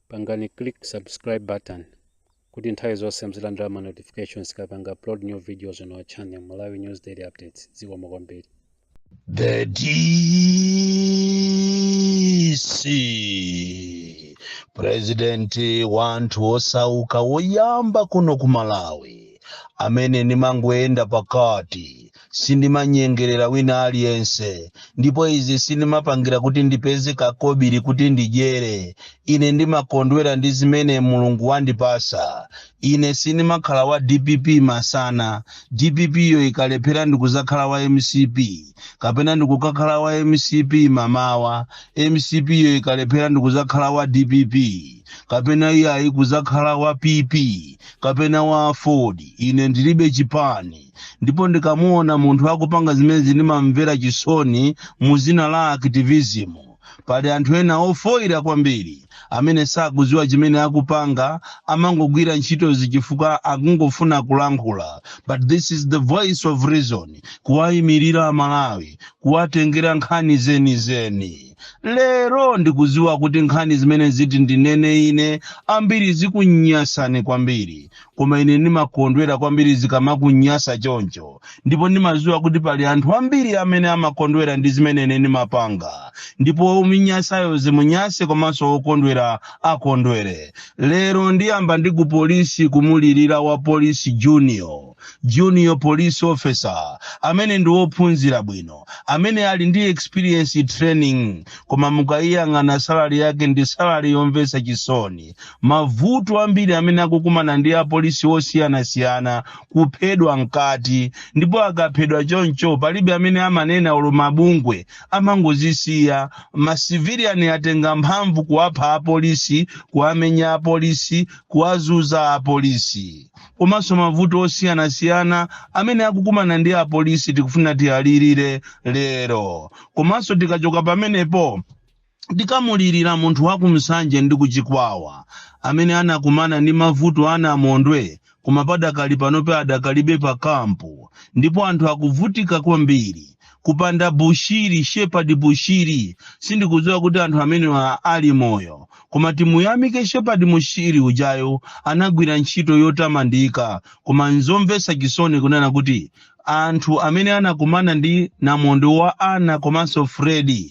pangani click subscribe button kuti nthawi zonse muzilandira ma notifications tikapanga upload new videos on our channel malawi news daily updates zikomo kwambiri The DC Presidenti wa anthu osauka woyamba kuno ku Malawi amene ndimangoyenda pakati Sindimanyengerera wina aliyense, ndipo izi sindimapangira kuti ndipeze kakobiri kuti ndidyere. Ine ndimakondwera ndi zimene Mulungu wandipasa. Ine sindimakhala wa dpp masana, dpp yo ikalephera ndikuzakhala wa mcp, kapena ndikukakhala wa mcp mamawa, mcp yo ikalephera ndikuzakhala wa dpp, kapena iyayi kuzakhala wa pp, kapena wa aford. Ine ndilibe chipani. ndipo ndikamuona munthu akupanga zimenezi ndimamvera chisoni mu zina la activism pali anthu ena ofoyira kwambiri amene sakuziwa chimene akupanga amangogwira ntchitozi chifukwa akungofuna kulankhula but this is the voice of reason kuwayimirira amalawi kuwatengera nkhani zenizeni lero ndikuziwa kuti nkhani zimene ziti ndinene ine ambiri zikunyasani kwambiri Koma ine ndimakondwera kwambiri zikamakunyasa choncho, ndipo ndimaziwa kuti pali anthu ambiri amene amakondwera ndi zimene ine ndimapanga, ndipo womunyasayo zimunyase komanso wokondwera akondwere. Lero ndiyamba ndi ku polisi kumulirira wa polisi junior, junior police officer, amene ndi wophunzira bwino, amene ali ndi experience training, koma mukaiyang'ana salary yake ndi salary yomvesa chisoni. mavuto ambiri amene akukumana ndi apolisi osiyanasiyana kuphedwa mkati ndipo akaphedwa choncho palibe amene amanena olo mabungwe amangozisiya masiviliani atenga mphamvu kuwapha apolisi kuwamenya apolisi kuwazuza apolisi komanso mavuto osiyanasiyana amene akukumana ndi apolisi tikufuna tiyalirire lero komanso tikachoka pamenepo Tikamulirira munthu wa ku Msanje ndi ku Chikwawa amene anakumana ndi mavuto a namondwe koma padakali panope adakalibe pa camp ndipo anthu akuvutika kwambiri kupanda Bushiri Shepherd Bushiri sindikudziwa kuti anthu amenewa ali moyo koma timuyamike Shepherd Bushiri ujayo anagwira ntchito yotamandika koma nzomvesa chisoni kunena kuti Anthu amene anakumana ndi namondwe wa Ana komanso Freddy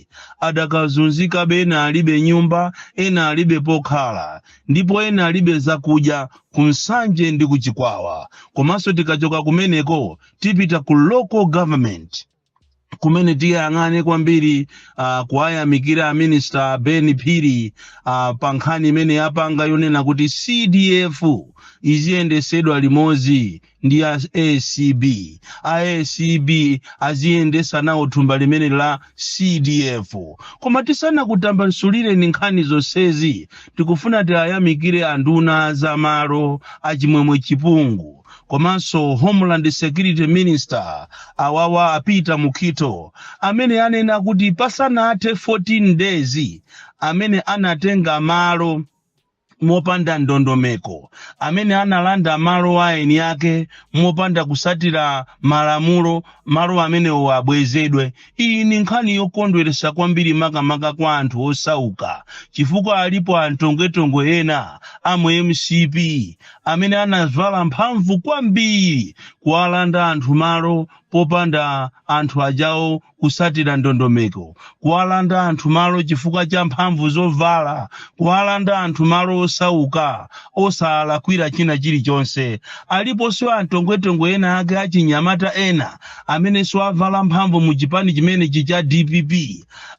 adakazunzikabe ena alibe nyumba, ena alibe pokhala ndipo ena alibe zakudya ku Msanje ndi ku Chikwawa. Komanso tikachoka kumeneko tipita ku local government. kumene tiyang'ane kwambiri uh, kuwayamikira aminista ben phiri uh, pa nkhani imene yapanga yonena kuti cdf iziyendesedwa limodzi ndi a acb a acb aziyendesa nawo thumba limene la cdf koma tisanakutambasulireni nkhani zonsezi tikufuna tiwayamikire anduna za malo achimwemwe chipungu komanso homeland security minister awawa a peter mukhito amene anena kuti pasanathe 14 days amene anatenga malo mopanda ndondomeko amene analanda malo a eni ake mopanda kusatira malamulo malo amenewo abwezedwe Iyi ni nkhani yokondweresa kwambiri makamaka kwa anthu osauka chifukwa alipo antongwe-tongwe ena a mu mcp amene anavala mphamvu kwambiri kuwalanda anthu malo popanda anthu ajawo kusatira ndondomeko, kuwalanda anthu malo chifukwa cha mphamvu zovala, kuwalanda anthu malo osauka osawalakwira china chilichonse. Aliponso antongwe-tongwe ena ake achinyamata ena amenenso avala mphamvu mu chipani chimenechi cha dpp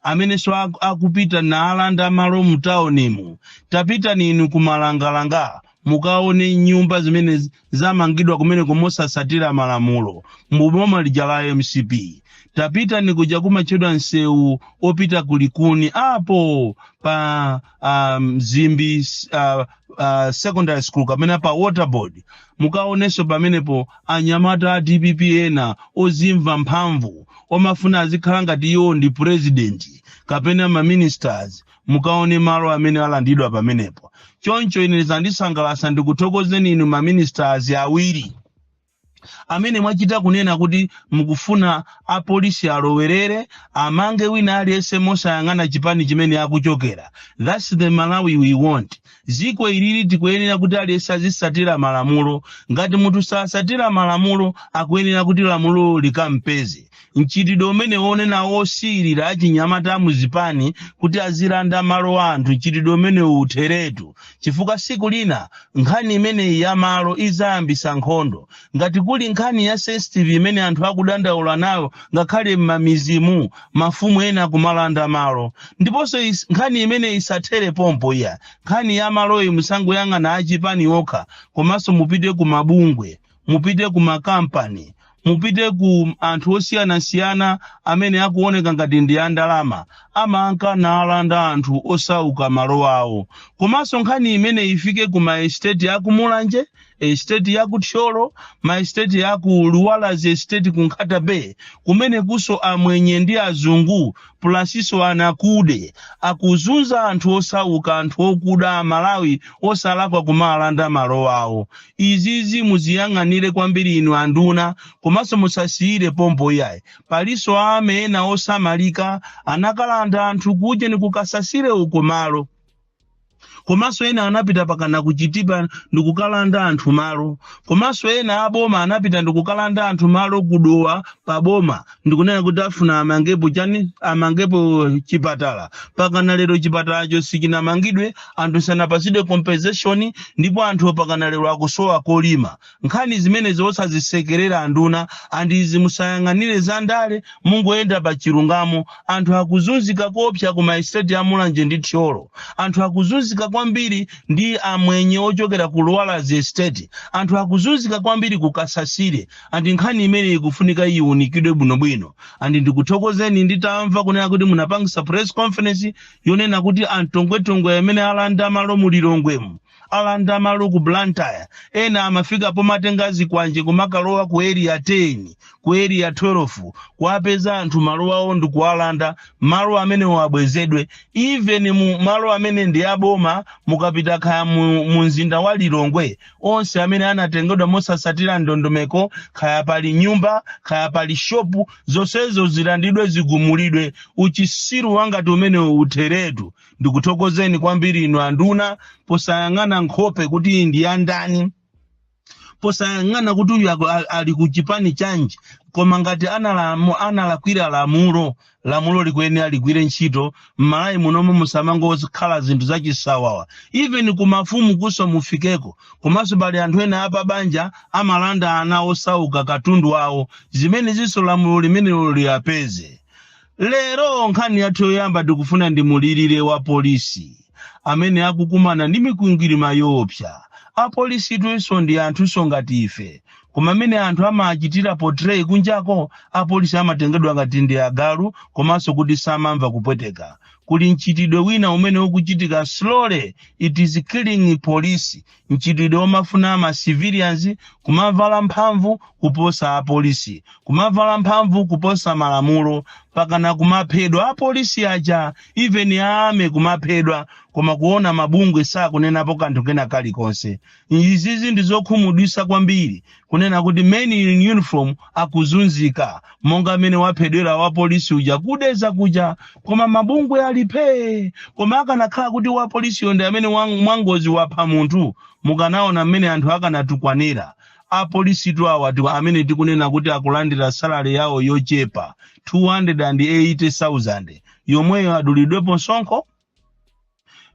amenenso ak- akupita naalanda malo mu taunimu tapitani inu ku malangalanga mukaone nyumba zimene z- zamangidwa kumeneko mosasatira malamulo mu boma lija la mcp tapitani kuja kumatchedwa msewu opita ku likuni apo pa mzimbi uh, uh, secondary school kapena pa waterboard mukaonenso pamenepo anyamata a dpp ena ozimva mphamvu omafuna azikhala ngati iwo ndi purezidenti kapena maministers mukaone malo amene alandidwa pamenepo choncho ine zandisangalasa ndikuthokozeni inu maministers awiri amene mwachita kunena kuti mukufuna apolisi alowerere amange wina aliyense mosayang'ana chipani chimene akuchokera that's the malawi we want ziko ilili tikuyenera kuti aliyense azisatira malamulo ngati munthu sasatira malamulo akuyenera kuti lamulo likampeze mchitidwe umene wonena wosiyirira achinyamata a muzipani kuti azilanda malo a anthu mchitidwe umene utheretu chifukwa siku lina nkhani imeneyi ya malo izayambisa nkhondo ngati kuli nkhani ya sensitive imene anthu akudandaula nayo ngakhale m'mamizimu mafumu ena kumalanda malo ndiponso is- nkhani imene isathere pompo iya nkhani ya maloyi musangoyang'ana achipani okha komanso mupite ku mabungwe mupite ku makampani mupite ku anthu osiyanasiyana amene akuoneka ngati ndi andalama amanka nalanda anthu osauka malo awo komanso nkhani imeneyi ifike ku maesteti aku mulanje esteti ya ku thyolo maesteti ya ku luwalazi esteti ku nkhata bay kumene kuso amwenye ndi azungu pulasinso anakude akuzunza anthu osauka anthu okuda amalawi osalakwa kumalanda malo awo izizi muziyang'anire kwambiri inu anduna komanso musasiyire pompo iyayi palinso a army ena osamalika anakalanda anthu kujeni ku kasasire uko malo komanso ena anapita pakana ku chitipa ndikukalanda anthu malo komanso ena aboma anapita ndikukalanda anthu malo ku dowa pa boma ndikunena kuti afuna amangepo chani amangepo chipatala pakana lero chipatalacho sichinamangidwe anthu sanapatsidwe compensation ndipo anthu pakana lero akusowa kolima nkhani zimenezi osazisekerera anduna and izi musayang'anire za ndale mungoyenda pa chilungamo anthu akuzunzika koopsa ku maestate a mulanje ndi thyolo anthu akuzunzika kwambiri ndi amwenye ochokera ku luwalazi estate anthu akuzunzika kwambiri ku kasasire andi nkhani imeneyi ikufunika iunikidwe bwinobwino andi ndikuthokozeni nditamva kunena kuti munapangisa press conference yonena kuti antongwetongwe amene alanda malo mu lilongwemu alanda malo ku blantyre ena amafika pomatenga zikwanje kumakalowa ku area 10 ku area 12 kuwapeza anthu malo awo ndi kuwalanda malo amenewo abwezedwe even mu malo amene ndi aboma mukapita kaya mu, mu mzinda wa lilongwe onse amene anatengedwa mosasatira ndondomeko kaya pali nyumba kaya pali shopu zonsezo zilandidwe zigumulidwe uchisiru wangati umenewo utheretu ndikuthokozeni kwambiri inu anduna posayang'ana nkhope kuti ndi ya ndani posayang'ana kuti uyu aku- a- ali ku chipani chanji koma ngati analamu- analakwira lamulo lamulo likuyenera ligwire ntchito m'malawi munomo musamangokhala zinthu zachisawawa even ku mafumu kuso mufikeko komanso pali anthu ena apa banja amalanda ana osauka katundu wawo zimenezinso lamulo limenelo liyapeze lero nkhani yathu yoyamba tikufuna ndimulirire wapolisi amene akukumana ndi mikwingwirima yoopsa apolisitunso ndi anthunso ngati ife koma mmene anthu amachitira portray kunjako apolisi amatengedwa ngati ndi agalu komanso kuti samamva kupweteka kuli mchitidwe wina umene ukuchitika slowly it is killing police mchitidwe omafuna ma civilians kumavala mphamvu kuposa apolisi kumavala mphamvu kuposa malamulo pakana kumaphedwa apolisi aja even a army kumaphedwa koma kuona mabungwe sakunenapo kanthu kena kalikonse izizi ndizokhumudwisa kwambiri kunena kuti men in uniform akuzunzika monga mmene waphedwera wapolisi uja ku Dedza kuja koma mabungwe ali phee koma akanakhala kuti wapolisiyo ndi amene wa- mwangozi wapha munthu mukanaona mmene anthu akanatukwanira apolisitu awa tiku- amene tikunena kuti akulandira salale yawo yochepa 280,000 yomweyo adulidwepo msonkho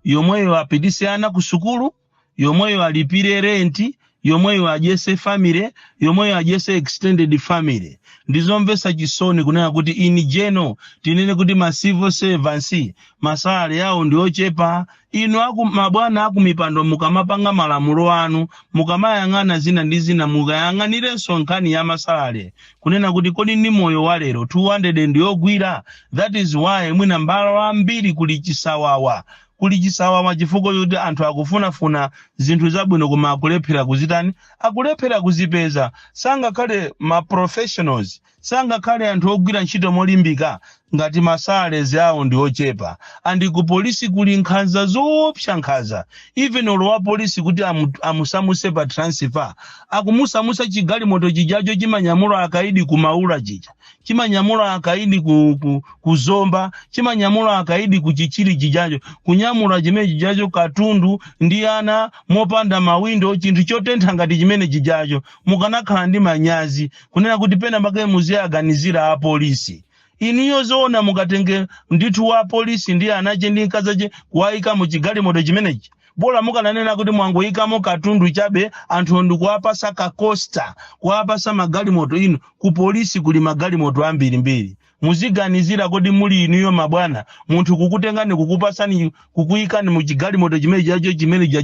yomweyo apitise ana ku sukulu yomweyo alipire renti yomweyo adyese family yomweyo adyese extended family ndizomvesa chisoni kunena kuti in general tinene kuti ma civil servants masalale awo ndi ochepa inu mabwana akumipando mukamapanga malamulo anu mukamayang'ana zina ndi zina mukayang'anirenso nkhani ya masalale kunena kuti kodi ndi moyo wa lero 200 ndiyogwira that is why mwina mmalo ambiri kuli chisawawa kuli chisawawa chifukwa choti anthu akufunafuna zinthu zabwino koma akulephera kuzitani akulephera kuzipeza sangakhale ma professionals sangakhale anthu ogwira ntchito molimbika Ngati ma salaries awo ndi ochepa and ku police kuli nkhanza zoopsa nkhaza even olo wa police kuti amu amusamuse pa transfer akumusamusa chigalimoto chijacho chimanyamula akaidi ku maula chija chimanyamula akaidi ku, ku, ku zomba chimanyamula akaidi ku chichiri chijacho kunyamula chimene chijacho katundu ndi ana mopanda mawindo chinthu chotentha ngati chimene chijacho mukanakhala ndi manyazi kunena kuti pena pake muziyaganizira apolisi inuyo zoona mukatenge ndithu wa polisi ndi anache ndi nkazache kuwayika mu chigalimoto chimenechi bola mukananena kuti mwangoyikamo katundu chabe anthu ndikuwapasa kakosta kuwapasa magalimoto inu ku polisi kuli magalimoto ambirimbiri muziganizira kodi muli inuyo mabwana munthu kukutengani kukupasani kukuyikani mu chigalimoto chimene chijacho chimene chija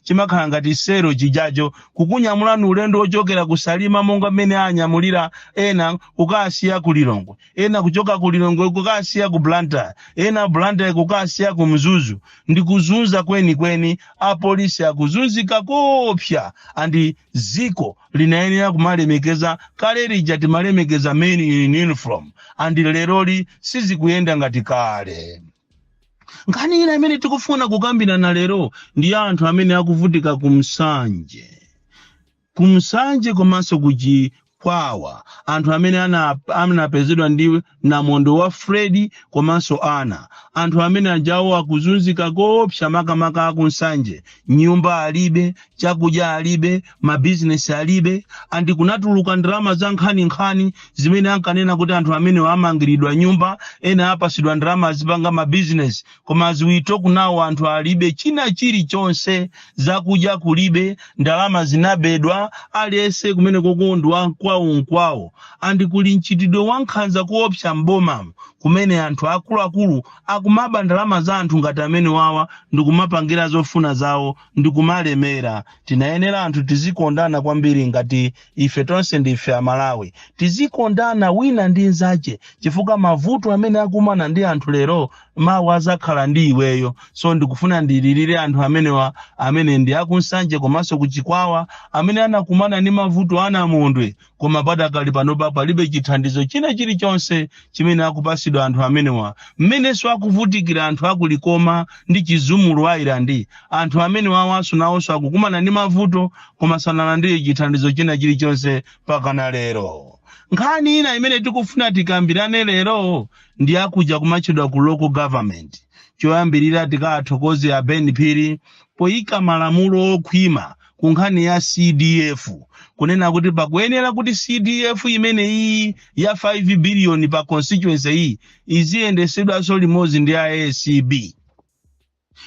chimakhala ngati sero chijacho kukunyamulani ulendo wochokera ku Salima monga mmene anyamulira ena kukasiya ku lilongwe ena kuchoka ku lilongwe kukasiya ku blantyre ena blantyre kukasiya ku mzuzu ndi kuzunza kwenikweni apolisi akuzunzika koopsa andi ziko linayenera kumalemekeza kale lija timalemekeza men in uniform andi leroli sizikuyenda ngati kale nkhani ina imene tikufuna kukambirana lero ndi ya anthu amene akuvutika ku Nsanje ku Nsanje komanso ku chikwawa anthu amene ana- anapezedwa ndi namondwe wa fredi komanso ana anthu amene ajawo akuzunzika koopsa makamaka aku Nsanje nyumba alibe chakudya alibe mabizinesi alibe and kunatuluka ndalama za nkhaninkhani zimene ankanena kuti anthu amenewa amangiridwa nyumba ena apasidwa ndalama azipanga mabizinesi koma as we talk now anthu alibe china chilichonse zakudya kulibe ndalama zinabedwa aliyense kumene kokondwa nkwawo nkwawo and kuli mchitidwe wa nkhanza kuopsa m'bomamo kumene anthu akuluakulu akumaba ndalama za anthu ngati amenewawa ndikumapangira zofuna zawo ndikumalemera Tinayenera anthu tizikondana kwambiri ngati ife tonse ndife a Malawi. Tizikondana wina ndi nzache chifukwa mavuto amene akumana ndi anthu lero mawa azakhala ndi iweyo. So ndikufuna ndililire anthu amenewa amene ndi aku Nsanje komanso ku Chikwawa amene anakumana ndi mavuto a Namondwe koma padakali panopa palibe chithandizo china chilichonse chimene akupasidwa anthu amenewa mmenenso akuvutikira anthu akulikoma ndi chizumulu island anthu amenewawanso nawonso akukumana ndi mavuto koma sanalandire chithandizo china chilichonse pakana lero nkhani ina imene tikufuna tikambirane lero ndi akuja kumatchedwa ku local government choyambirira tiwathokoze a ben phiri poyika malamulo okhwima ku nkhani ya cdf kunena kuti pakuyenera kuti cdf imeneyi ya 5 biliyoni pa constituency iyi iziyendesedwanso limodzi ndi acb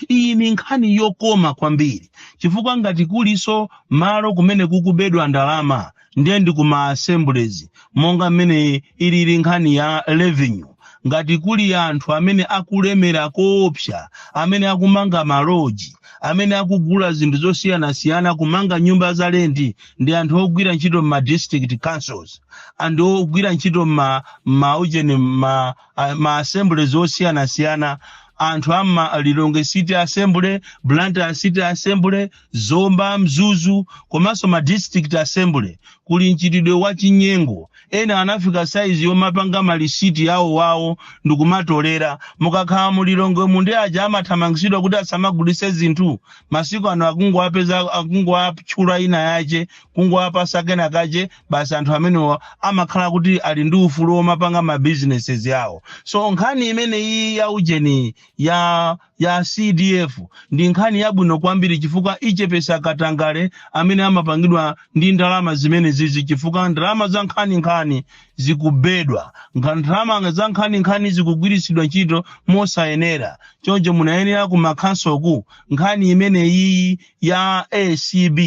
iyi ni nkhani yokoma kwambiri chifukwa ngati kuliso malo kumene kukubedwa ndalama ndiye ndi ku ma assemblies monga mmene ilili nkhani ya revenue ngati kuli anthu amene akulemera koopsa amene akumanga maloji amene akugula zinthu zosiyanasiyana kumanga nyumba za lendi ndi anthu ogwira ntchito mma district councils and ogwira ntchito mma ma ujeni ma, a- ma assemblies osiyanasiyana anthu a mma lilongwe city assembly blantyre city assembly Zomba, Mzuzu komanso ma district assembly kuli mchitidwe wa chinyengo. Ena anafika saizi yomapanga ma lisiti yawo wawo ndikumatolera. Mukakhala mu Lilongwe mavenda aja amathamangitsidwa kuti asamagulitse zinthu, masiku ano akungowapeza akungowatchula nayi yache kungowapasa kena kache basi anthu amenewa amakhala kuti ali ndi ufulu womapanga ma businesses awo. So nkhani imeneyi ya ujeni ya ya CDF ndi nkhani yabwino kwambiri chifukwa ichepesa katangale amene amapangidwa ndi ndalama zimenezizi chifukwa ndalama za nkhaninkhani zikubedwa Nga- ndalama za nkhaninkhani zikugwiritsidwa ntchito mosayenera choncho munayenera kumakhansoku nkhani imeneyiyi ya acb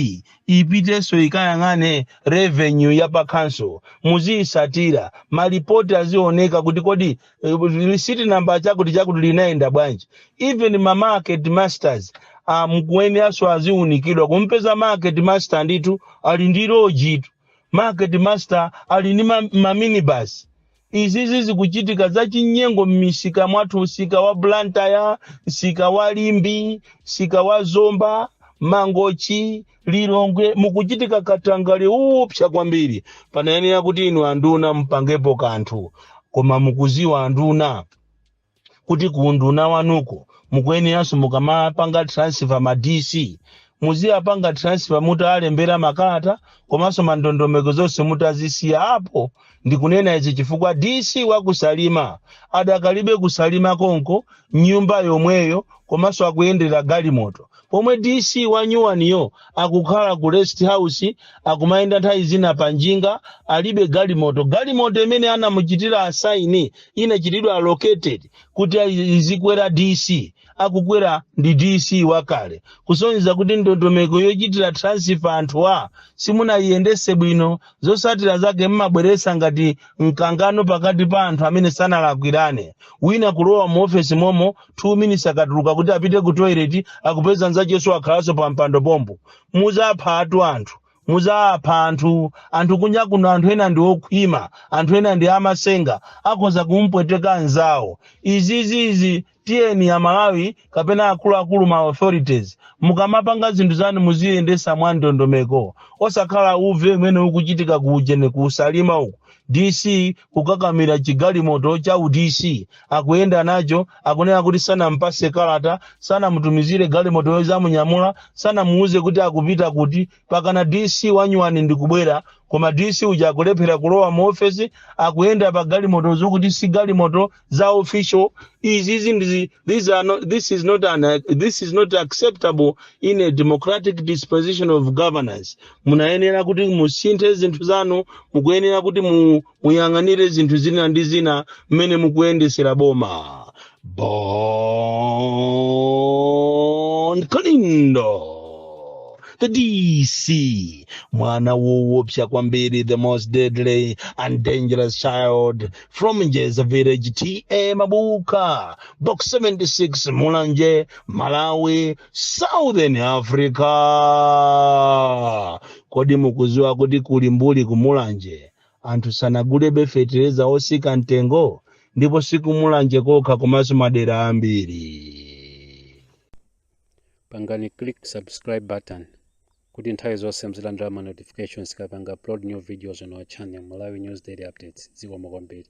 ipitenso ikayang'ane revenue ya pakhanso muziyisatira malipoti azioneka kuti kodi Eh, lisiti namba chakuti chakuti linayenda bwanji even ma market masters akuyeneranso aziunikidwa kumpeza market master ndithu ali ndi lojitu market master ali ndi ma- maminibus izizi zikuchitika zachinyengo m'misika mwathu msika wa blantyre msika wa limbe msika wa zomba mangochi lilongwe mukuchitika katangale oopsa kwambiri panayenera kuti inu anduna mupangepo kanthu koma mukuziwa anduna kuti ku unduna wanuko mukuyeneranso mukamapanga transfer ma dc muziwapanga transfer mutaalembera makalata komanso mandondomeko zonse mutazisiya apo Ndikunena izi chifukwa DC wa ku Salima adakalibe ku Salima konko mnyumba yomweyo komanso akuyendera galimoto pomwe DC wa nyuwaniyo akukhala ku rest house akumayenda nthawi zina pa njinga alibe galimoto. Galimoto imene anamuchitira asaini inachitidwa allocated kuti azikwera DC. akukwera ndi dc wakale kusonyeza kuti ndondomeko yochitira transifa anthuwa simunayiyendese bwino zosatira zake mmabweresa ngati mkangano pakati pa anthu amene sanalakwirane wina kulowa mu ofesi momo 2 minutes akatuluka kuti apite ku toilet akupeza nzacheso akhalanso pa mpando pompo muzapha atu anthu muzapha anthu anthu kunja kuno anthu ena ndi okhwima anthu ena ndi amasenga akhoza kumpweteka anzawo izizizi Tiyeni a Malawi kapena akuluakulu ma authorities mukamapanga zinthu zanu muziyendesa mwa ndondomeko osakhala uve umene ukuchitika ku ujeni ku salima uku DC kukakamira chigalimoto cha u DC akuyenda nacho akunena kuti sanampase kalata sanamutumizire galimoto yozamunyamula sanamuuze kuti akupita kuti pakana DC wanyuwani ndikubwera koma DC uja akulephera kulowa mu office akuyenda pa galimoto zokuti si galimoto za official izizi these are not, this is not an, this is not acceptable in a democratic disposition of governance munayenera kuti musinthe zinthu zanu mukuyenera kuti mu, muyang'anire zinthu zina ndi zina mmene mukuyendesera boma bon kalindo the dc mwana woopsa kwambiri the most deadly and dangerous child from njeza village ta mabuka box 76 mulanje malawi southern africa kodi mukuziwa kuti kulimbuli kumulanje Anthu sanagulebe fetereza osika mtengo ndipo sikumulanje kokha komanso madera ambiri. pangani click subscribe button kuti nthawi zonse muzilandira ma notifications tikapanga upload new videos on our channel Malawi News Daily Updates zikomo kwambiri